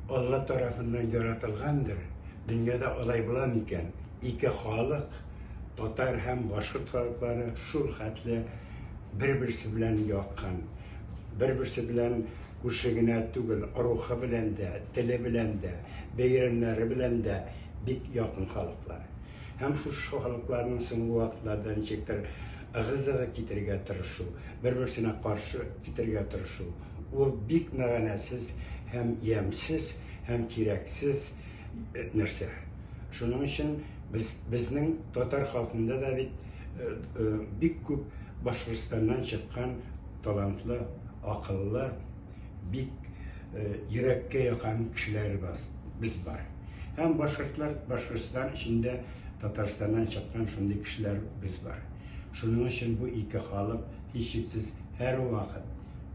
Алла тарафыннан яратылгандыр, дөньяда алай була микән, ике халык, татар һәм башкорт халыклары шул хәтле бер-берсе белән якын, бер-берсе белән күрше генә түгел, рухы белән дә, теле белән дә, бәйрәмнәре белән дә бик якын халыклар. Һәм шушы халыкларның соңгы вакытларда ничектер ыгы-зыгы китерергә тырышу, бер-берсенә каршы китерергә тырышу, Ул бик мәгънәсез һәм ямьсез һәм кирәксез нәрсә. Шуның өчен без безнең татар халкында да бит бик күп Башкортстаннан чыккан талантлы, акыллы, бик йөрәккә якан кешеләр баз без бар. Һәм башкортлар Башкортстан эчендә Татарстаннан чыккан шундый кешеләр без бар. Шуның өчен бу ике халык һичшиксез һәрвакыт,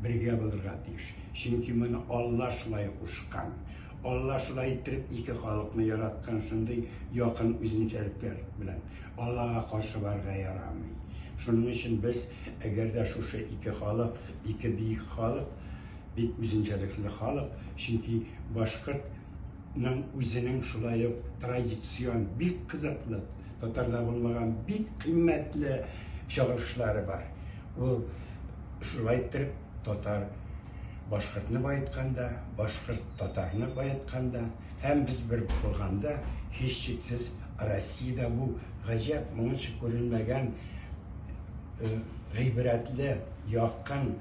Бергә булырга тиеш, чөнки моны Алла шулай кушкан. Алла шулай иттереп ике халыкны яраткан, шундый якын үзенчәлекләр белән. Аллага каршы барырга ярамый. Шуның өчен без, әгәр дә шушы ике халык, ике биек халык, бик үзенчәлекле халык, чөнки башкорт ның үзенең шулай ук традицион, бик кызыклы, татарда булмаган бик кыйммәтле чыгарышлары бар. Ул шулай иттереп татар башкортны баетканда, башкорт татарны баетканда һәм без бер булганда, һичшиксез Россиядә бу гаҗәп, моңынча күрелмәгән гыйбрәтле, якын,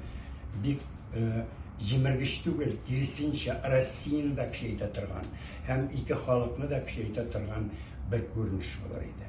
бик җимергеч түгел, киресенчә, Россияне дә көчәйтә торган һәм ике халыкны да көчәйтә торган бер күренеш булыр иде.